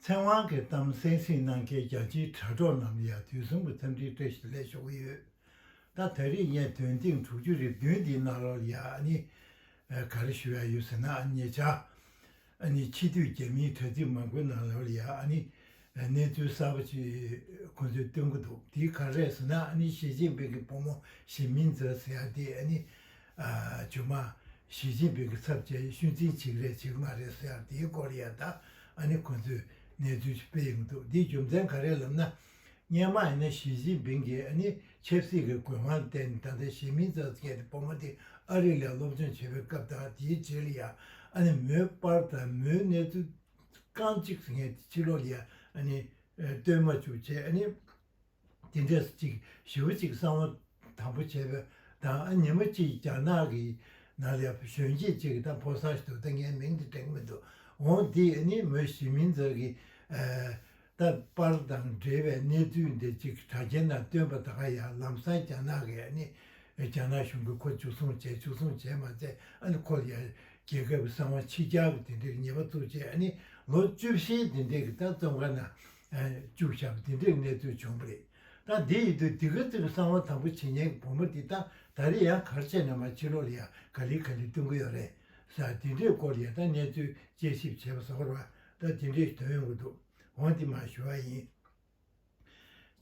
ཚེ་དབང་གི་གཏམ་གསན་གཟིགས་གནང་མཁན་རྒྱ་ཆེའི་དྲ་གྲོགས་རྣམས་ལ་ཡང་དུས་གསུམ་གྱི་འཚམས་འདྲིའི་བཀྲ་ཤིས་ལན་ཞུ་གི་ཡོད། ད་ད་རེས་བརྙན་ཐུང་ཐེངས་དྲུག་ཅུ་རེ་བདུན་འདིའི་ནང་ལོ་ཡ་ནི་ག་རེ་ཞུ་ཡ་ཡོད་ཟེར་ན་ཉེ་ཆར་ཨ་ནི་ཕྱི་སྡོད་རྒྱ་མིའི་དྲ་ཚིགས་མང་པོའི་ནང་ལོ་ཡ་ནི་གནས་ཚུལ་གསར་པ་ཅིག་ཁོང་ཚོས་སྟོན་གི་འདུག་དེའི་ག་རེ་ཟེར་ན་ཨ་ནི་ཞི་ཅིན་ཕིང་གི་བུ་མོ་ཞི་མིན་ཛེ་ཟེར་ཡ་དེ་ཨ་ནི་ཇོ་མ། ཞི་ཅིན་ཕིང་གི་ཚབ་བཅས་ཤུལ་འཛིན་བྱེད་རེས་བྱེད་ཀྱི་མ་རེད་ཟེར་དེའི་སྐོར་ཡང་དག་ཨ་ནི་ཁོང་ཚོས་གནས་ཚུལ་ཞིག་སྤེལ་ཡོང་གི་འདུག་འདིའི་རྒྱུ་མཚན་ག་རེ་ལབ་ན། སྙན་མ་ཨ་ནི་ཞི་ཅིན་ཕིང་གིས་ཨ་ནི་ཆབ་སྲིད་ཀྱི་གོས་དབང་བསྟན་ནས་ད་ལྟ་གཞིས་མིའི་རྩ་འཛིན་གལ་ཏེ་བུ་མོ་དེ་ཨ་རི་ལ་སློབ་སྦྱོང་བྱེད་པའི་སྐབས་དང་དེའི་རྗེས་ལ་ཡང་ཨ་ནི་མོའི་པར་དང་མོའི་གནས་ཚུལ་རྐང་གཅིག་ངས་ཕྱི་ལོགས་ལ་ཡང་ཨ་ནི་སྟོན་མ་བཅུག་ཅེས་ཨ་ནི། དེ་འདྲས་སུ་ཅིག་ཞི་བ་གཅིག་གསང་བ་དང་པོ་བྱས་པའི་དང་ཨ་ཉི་མ་གཅིག་རྒྱ་ནག་གི་ནང་ལས་གཞོན་སྐྱེས་ཅིག་དང་པོ་ས་ཞིག་ཏུ་ལྟ་ངའི་མིང་དེ་དྲེགས་མེད་དུ་འོང་འདི་ནི་མོ་གཞི་མིན་ཚོད་ཀྱི་ཨ། ལྟ་བར་དང་འབྲེལ་བའི་གནས་ཚུལ་འདི་ཅིག་དྲ་རྒྱའི་ནང་བཏོན་པ་དག་ཡང་ལམ་སང་རྒྱ་ནག་གི་ཨ་ནི་རྒྱ་ནག་གཞུང་གིས་ཁོ་བཅུ་གསུངས་བྱས་བཅུ་གསུངས་བྱས་མ་བྱས་ཨ་ནི་ཁོ་ཡ་རྒྱལ་ཁབ་གསང་བ་ཕྱི་རྒྱལ་གྱི་དེ་འདྲས་ངེས་པ་བཙུགས་བྱས་ཨ་ནི་ལོ་བཅུ་བཞིའི་དེ་འདྲས་ཀྱི་ལྟ་བཙོང་ཁང་ནང་བཅུག་བཞག་འདི་འདྲའི་གནས་ཚུལ་བྱུང་བ་རེད། ད་འདི་ཡིད་དུ་འདི་ག་ཙི་གི་གསང་བ་དང་པོ་བྱེད་ཉན་གི་བུ་མོ་འདི་ད་ད་རེ་ཡང་གར་བྱས་ནས་མ་ཕྱི་ལོག་ལ་ཡང་ག་ལེ་ག་ལེ་བསྟུན་གི་ཡོད་རེད་ས་འདི་འདྲའི་སྐོར་ཡང་ད་གནས་ཚུལ་དཔྱད་ཞིབ་བྱས་པ་ཟོར་བ་ད་འདི་འདྲའི་དོན་ཡོང་གི་འདུག་འོང་འདི་མ་ཞུ་བ་ཡིན།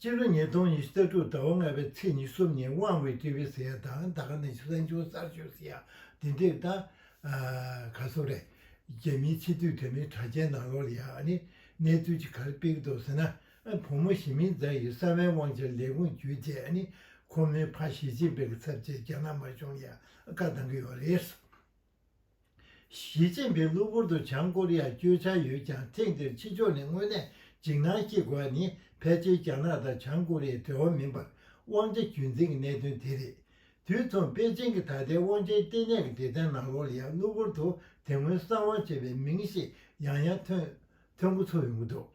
སྤྱི་ལོ་ཉིས་སྟོང་ཉི་ཤུ་རྩ་དྲུག་ཟླ་བ་ལྔ་པའི་ཚེས་ཉི་གསུམ་ཉིན་དབང་བའི་ཏི་བི་སི་ཡ་དང་ད་ག་ནས་ཤི་སན་ཆུང་གསར་ཤོས་སི་ཡ་འདི་འདྲའི་ད་ག་ཟོ་རེ། རྒྱ་མིའི་ཕྱི་དུས་དེ་མིན་དྲ་རྒྱའི་ནང་ལོག་ལ་ཡང་ཨ་ནི་གནས་ཚུལ་གྱི་གར་དཔེ་ཀྱི་དོགས་ཟེར་ན་བུ་མོ་ཞི་མིང་རྫ་ཡིས་གསང་བའི་དབང་ཆར་ལས་ཁུངས་བརྒྱུད་རྗེས་ནི་ཁོ་མོའི་ཕ་ཞི་ཅིན་པེ་ཀྱི་ཚབ་བྱེད་རྒྱ་ནག་དམར་གཞུང་ལ་བཀའ་གདང་གི་ཡོད་རེད། ཞི་ཅིན་པེ་གློ་བུར་དུ་བྱང་ཀོ་རི་ཡར་བསྐྱོད་འཆར་ཡོད་ཀྱང་ཐེངས་འདིར་ཕྱི་ཕྱོགས་ནས་དངོས་གནས་འཇིགས་སྣང་སྐྱེ་དགོས་པ་ནི་ཕལ་ཆེར་རྒྱ་ནག་དང་བྱང་ཀོ་རི་ཡའི་འབྲེལ་བ་མིན་པར་དབང་ཆ་རྒྱུན་འཛིན་གྱི་གནད་དོན་དེ་རེད། དུས་མཚུངས་པེ་ཅིང་གི་ད་ལྟའི་དབང་ཆའི་ལྟེ་གནས་ཀྱི་སྡེ་ཚན་ནང་ལོར་ཡང་གློ་བུར་དུ་དེ་སྔོན་གསང་དབང་བྱས་པའི་མིང་ཞིག་ཡང་ཡང་ཐོན་ཐོན་འགོ་ཚུགས་ཡོང་གི་འདུག་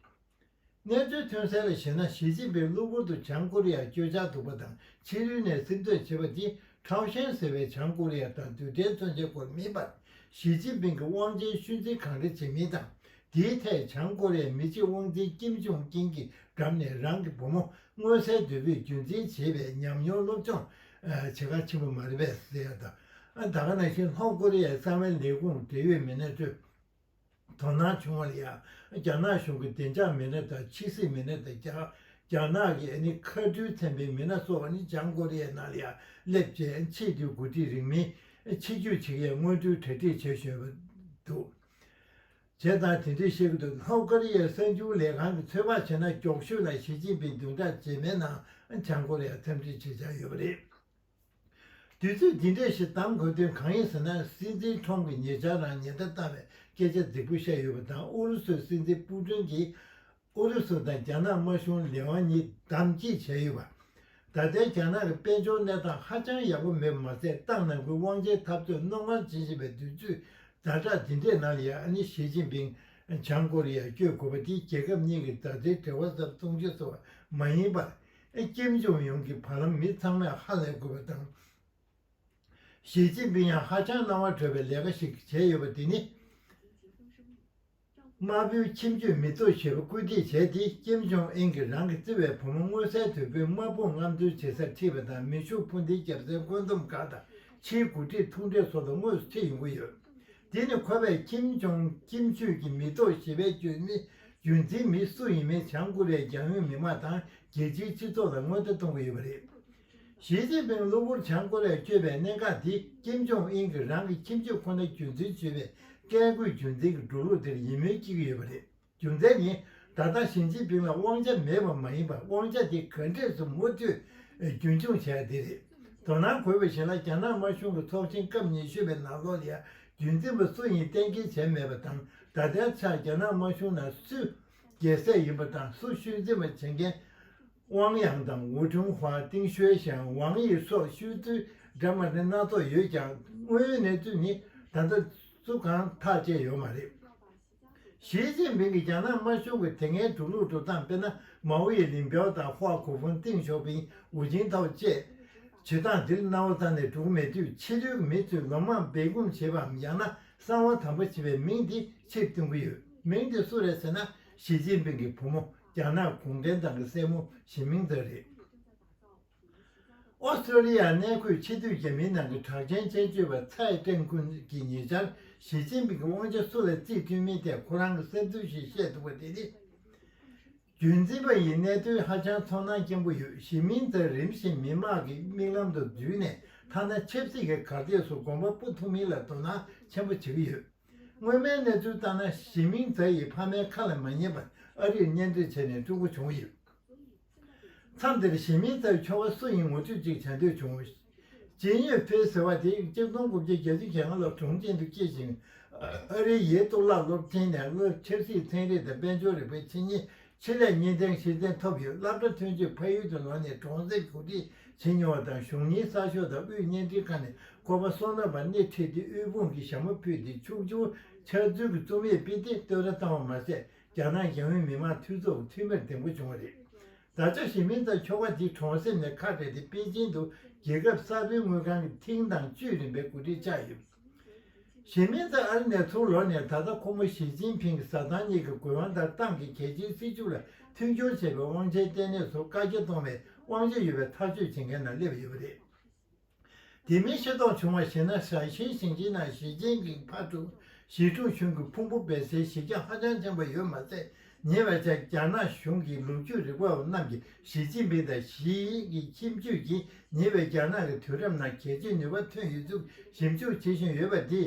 གནས་ཚུལ་ཐོན་གསལ་ལ་བཞེད་ན་ཞི་ཅིན་ཕིང་གློ་བུར་དུ་བྱང་ཀོ་རི་ཡར་བསྐྱོད་འཆར་འདུག་པ་དང་ཕྱི་རོལ་ནས་སིམ་འཛུལ་བྱེད་པ་འདི་ཁྲའོ་ཞན་ཟེར་བའི་བྱང་ཀོ་རི་ཡ་དང་དུས་དྲན་མཚོན་བྱེད་སྐོར་མིན་པར་ཞི་ཅིན་ཕིང་གི་དབང་ཆའི་ཤུལ་འཛིན་གང་འདྲ་བྱེད་མིན་དང་དེའི་ཐད་བྱང་ཀོ་རི་ཡའི་མི་གཅིག་དབང་འཛིན་ཀིམ་ཇུང་ཀིན་གྱིས་འགྲམ་ནས་རང་གི་བུ་མོ་མངོན་གསལ་དོད་པོས་རྒྱུན་འཛིན་བྱེད་པའི་ཉམས་མྱོང་སློབ་སྦྱོང་བྱེད་ཁག་ཆེན་པོ་མ་རེད་པས་ཟེར་ཡག་ད། ད་ག་ནང་བཞིན་ལྷོ་ཀོ་རི་ཡའི་གསང་བའི་ལས་ཁུངས་འབྲེལ་ཡོད་མི་སྣའི་ཁྲོད་དོ་སྣང་བྱུང་བར་ཡང་རྒྱ་ནག་གཞུང་གི་བདེ་འཇགས་མི་སྣ་དང་ཕྱི་སྲིད་མི་སྣ་དང་རྒྱ་ནག་གི་ནི་མཁའ་འགྲུལ་ཚན་པའི་མི་སྣ་སོགས་ནི་བྱང་ཀོ་རི་ཡའི་ནང་ལ་ཡང་སླེབས་རྗེས་ཆེས་མཐོའི་འགོ་ཁྲིད་རིང་མིན་ཆེད་སྐྱོད་བྱེད་མཁན་སྔོན་འགྲོའི་གྲ་སྒྲིག་བྱས་ཞོར་དུ། བྱས་ཙང་དེ་དུས་ཤིག་ཏུ་ལྷོ་ཀོ་རི་ཡའི་གསར་འགྱུར་ལས་ཁང་གིས་ཚོད་དཔག་བྱས་ན་སྐྱོགས་ཤོད་ལ་ཞི་ཅིན་ཕིང་བདུན་ཕྲག་རྗེས་མའི་ནང་བྱང་ཀོ་རི་ཡར་འཚམས་འདྲི་བྱེད་འཆར་ཡོད་པ་རེད། དུས་ཚོད་འདི་འདྲའི་ཞིག་གདམ་དགོས་དོན་གང་ཡིན་ཟེར་ན་སྲིད་འཛིན་ཁྲོམ་གྱིས་ཉེ་ཆར་རང་ཉེན་བརྡ་བཏང་བའི་སྐད་ཆ་རྫིག་པོ་བཤད་ཡོད་པ་དང་ཨུ་རུ་སུའི་སྲིད་འཛིན་པུ་ཀྲིན་གྱིས་ཨུ་རུ་སུ་དང་རྒྱ་ནག་དམར་གཞུང་ལས་དབང་གཉིས་བདམས་བསྐྱིལ་བྱས་ཡོད་པ། ད་ལྟའི་རྒྱ་ནག་གི་དཔལ་འབྱོར་གནས་སྟངས་ཧ་ཅང་ཡག་པོ་མེད་པ་མ་ཟད་ཏང་ནང་ཁུལ་དབང་ཆའི་འཐབ་རྩོད་རྣོ་ངར་འབྱིན་བཞིན་པའི་དུས་ཚོད་ཟླ་གྲགས་འདི་འདྲའི་ནང་ལ་ཡང་ཨ་ནི་ཞི་ཅིན་ཕིང་བྱང་ཀོ་རི་ཡར་བསྐྱོད་དགོས་པ་དེ་རྒྱལ་ཁབ་གཉིས་ཀྱི་མཛའ་བརྩེའི་འབྲེལ་བ་ཟབ་གཏོང་བྱེད་སོང་བ་མ་ཡིན་པར། ཀེམ་ཇོང་ཡུང་གི་བར་ལམ་མི་ཚང་མས་ཧ་ལས་དགོས་པ་དང། ཞི་ཅིན་ཕིང་ཡང་ཧ་ཅང་སྣང་བ་གྲོལ་བའི་ལས་ཀ་ཞིག་བྱས་ཡོད་པ་དེ་ནི། དམར་པོའི་ཁྱིམ་རྒྱུད་མི་གཙོ་བྱེད་པར་སྐུལ་འདེད་བྱས་ཏེ་ཀེམ་ཇོང་ཨེན་གྱིས་རང་གི་བརྩེ་བའི་བུ་མོ་མངོན་གསལ་དོད་པོས་དམག་དཔུང་རྔམ་སྟོན་བྱེད་སར་ཁྲིད་པ་དང་མི་ཕྱུགས་སྤུན་ཟླའི་རྒྱབ་རྩའི་བཀོད་འདོམས་ཁང་དང་ཕྱིའི་འགོ་ཁྲིད་ཐུག་འཕྲད་སོགས་ལ་དངོས་སུ་ཁྲིད་ཡོང་གི་ཡོད། འདི་ནི་ཁོ་པས་ཀེམ་ཇོང་ཀིམ་རྒྱུད་ཀྱི་མི་གཙོ་བྱེད་པའི་བརྒྱུད་མི་རྒྱུན་འཛིན་མི་སུ་ཡིན་མིན་བྱང་ཀོ་རི་ཡའི་རྒྱང་ཡོད་མི་དམངས་དང་རྒྱལ་སྤྱིའི་སྤྱི་ཚོགས་ལ་སྔོན་བརྡ་གཏོང་གི་ཡོད་པ་རེད། ཞིས་ཅིན་ཕིང་གློ་བུར་བྱང་ཀོ་རེར་བསྐྱོད་པའི་གནད་འགག་འདི་ཀེམ་ཇོང་ཨིན་གྱིས་རང་གི་ཁྱིམ་སྤྱོད་ཁོ་ན་རྒྱུན་འཛིན་བྱེད་པའི་བཀས་བཀོད་རྒྱུད་འཛིན་གྱི་འགྲོ་ལུགས་དེར་ཡིད་སྨོན་སྐྱེ་གི་ཡོད་པ་རེད། རྒྱུ་མཚན་ནི་ད་ལྟ་ཞིས་ཅིན་ཕིང་ལ་དབང་ཆ་མེད་པ་མ་ཡིན་པར་དབང་ཆ་དེ་ག་འདྲས་སུ་མུ་མཐུད་རྒྱུན་འཁྱོངས་བྱ་རྒྱུ་དེ་རེད། དོ་སྣང་དགོས་པ་ཞིག་ལ་རྒྱ་ནག་དམར་གཞུང་གི་ཚོགས་ཆེན་སྐབས་ཉི་ཤུ་པའི་ནང་ལོགས་ལ་ཡང་རྒྱུན་འཛིན་པ་སུ་ཡིན་གཏན་འཁེལ་བྱས་མེད་པ་དང་ད་ལྟའི་ཆར་རྒྱ་ནག་དམར་གཞུང་ནང་སུ་རྒྱལ་སྲས་ཡིན་པ་དང་སུ་ཤུལ་འཛིན་པ་བྱེད་མཁན་ཝང་དབྱང་དང་ཝུའུ་ཁྲུང་ཧྥ་ཏིང་ཞོའེ་ཞང་ཝང་ཡིས་སོགས་ཤུལ་གཙོས་དྲ་མ་ནི་སྣ་ཚོགས་ཡོད་ཀྱང་དངོས་ཡོད་གནས་ཚུལ་ནི་ད་ལྟ་སུ་གང་ཐག་བཅད་ཡོད་མ་རེད། ཞི་ཅིན་ཕིང་གིས་རྒྱ་ནག་དམར་གཞུང་གི་དེ་སྔའི་འགྲོ་ལུགས་འགྲོ་སྟངས་དཔེར་ན་མའོ་ཡི་ལིན་པའོ་དང་ཧོ་ཁུ་ཧྥུན་ཏིང་ཞོ་ཕིང་ཝུ་ཅིན་ཐའོ་བཅས། བྱེད་སྟངས་འདིར་གནའ་བོ་ཙམ་ལས་གྲུག་མེད་དུས་ཕྱི་རོལ་གྱི་མི་ཚོས་ལོ་མང་སྦས་སྐུང་བྱེད་པའམ་ཡང་ན་གསང་བ་དམ་པོ་བྱེད་པའི་མིང་དེ་ཕྱིར་བཏོན་གྱི་ཡོད། མིང་དེ་སུ་རེད་ཟེར་ན་ཞི་ཅིན་ཕིང་གི་བུ་མོ་རྒྱ་ནག་གུང་ཁྲན་ཏང་གི་སྲས་མོ་ཞི་མིང་ཙེ་རེད། ཨོ་སྟྲེ་ལི་ཡར་གནས་འཁོད་ཕྱི་སྡོད་རྒྱ་མིའི་ནང་གི་གྲགས་ཅན་མཆན་བརྗོད་པ་ཚའེ་ཀྲེང་ཀུན་གྱིས་ཉེ་ཆར་ཞི་ཅིན་ཕིང་གི་དབང་ཆ་སུ་ལ་བརྩིས་བསྐྲུན་མིན་ཐད་ཁོ་རང་གི་སེམས་ཚོར་ཞིག་བཤད་འདུག་པ་དེ་ནི། རྒྱུན་འཛིན་པ་ཡི་གནད་དོན་ཧ་ཅང་ཚོར་སྣང་སྐྱེན་པོ་ཡོད་ཞི་མིང་ཙེ་རིམ་བཞིན་མི་དམངས་ཀྱི་མིག་ལམ་དུ་འཛུལ་ནས་ཐ་ན་ཆབ་སྲིད་ཀྱི་གར་སྟེགས་སུ་གོམ་པ་སྤོ་ཐུབ་མིན་ལ་དོ་སྣང་ཆེན་པོ་བྱེད་ཀྱི་ཡོད། སྔོན་མའི་གནས་ཚུལ་ལྟར་ན་ཞི་མིང་རྫ་ཡིས་ཕ་མའི་ཁ་ལ་མ་ཉན་པར་ཨ་རིར་གཉེན་སྒྲིག་བྱས་ནས་སྤྲུལ་སྐུ་བྱུང་ཡོད། མཚམས་དེར་ཞི་མིང་རྫ་ཡི་ཁྱོ་བ་སུ་ཡིན་ངོ་སྤྲོད་ཅིག་བྱ་འདོད་བྱུང། ཇིན་ཡོན་ཧྥེ་ཟེར་བ་དེ་གཅིག་སྟོང་དགུ་བརྒྱ་གྱ་བཅུ་ཞེ་ལྔ་ལོར་གྲོང་ཁྱེར་དུ་སྐྱེས་ཤིང། ཨ་རིའི་ཡེ་གཏོར་བརླག་སློབ་ཆེན་ནས་སློབ་ཕྱིར་སྲིད་ཚན་རིག་དང་དཔལ་འབྱོར་རིག་པའི་ཆེད་གཉེར་ཆེད་ལས་གཉེར་ཚན་ཕྱིར་འཐེན་ཐོབ་ཡོད་བླ་བྲང་ཐོན་སྐྱེད་ཕ་ཡུལ་དུ་ལངས་ནས་གྲོང་གསེབ་གོ་སྒྲིག་བྱེད་མྱོང་བ་དང་གཞུང་གཉེར་གསར་ཤོག་དང་དབུས་བརྙན་འཕྲིན་ཁང་ནས་བསྐོར་པ་སོགས་རྣམ་པར་སྣེ་ཁྲིད་དེ་དབུལ་ཕོངས་ཀྱི་ཞྭ་མོ་ཕུད་དེ་ཕྱུག་ཅུང་ཆགས་ཚུལ་གྱི་རྩོམ་ཡིག་སྤེལ་ཏེ་བསྟོད་ར་བཏང་བ་མ་ཟད་རྒྱ་ནག་རྒྱང་ཡོལ་མི་དམངས་འཐུས་ཚོགས་འཐུས་མིར་འདེམས་བསྐོ་བྱུང་བ་རེད། ད་ཆ་ཞི་མིན་དང་ཁྱོ་ག་དེ་གྲོང་གསེབ་ནས་ཁ་བྲལ་ཏེ་པེ་ཅིན་དུ་རྒྱལ་ཁབ་གསར་པའི་དངུལ་ཁང་གི་ཐིང་དང་ཅུས་རིམ་པའི་གོ་སྒྲིག་ཆགས་ཡོད། གཞི་མེད་དུ་ཨར་ནས་ཚུར་ལོག་ནས་ད་ལྟ་ཁོ་མོ་ཞི་ཅིན་ཕིང་གི་ཟ་ཐང་གཉིས་ཀྱི་དགོས་དབང་ལྟར་ཏང་གི་གལ་ཆེའི་སྲིད་ཇུས་ལ་མཐུན་སྦྱོར་བྱེད་པའི་དབང་ཆའི་ལྟེ་གནས་སུ་བཀག་རྒྱ་གཏོང་བའི་དབང་ཆ་ཡོད་པའི་ཐག་གཅོད་བྱེད་མཁན་ནང་སླེབས་ཡོད་པ་རེད། དེ་མིན་ཤེས་རྟོགས་བྱུང་བར་གཞིགས་ན་ཧྲན་ཤིན་ཞིང་ཆེན་ནང་ཞི་ཅིན་ཕིང་ཕ་ཀྲུའུ་ཞི་ཁྲུང་ཆུང་གི་ཕུང་པོ་སྦས་སའི་གཞི་རྒྱ་ཧ་ཅང་ཆེན་པོ་ཡོད་མ་ཟད་ཉེ་བའི་ཆར་རྒྱ་ནག་གཞུང་གི་ལོ་རྒྱུས་རིག་པ་བ་རྣམས་ཀྱིས་ཞི་ཅིན་ཕིང་དང་ཞི་ཡི་ཁྱིམ་རྒྱུད་ཀྱིས་ཉེ་བའི་རྒྱ་ནག་གི་དུས་རབས་ནང་གལ་ཆེའི་ནུས་པ་ཐོན་ཡོད་ཚུལ་ཞིབ་འཇུག་བྱེད་བཞིན་ཡོད་པ་དེས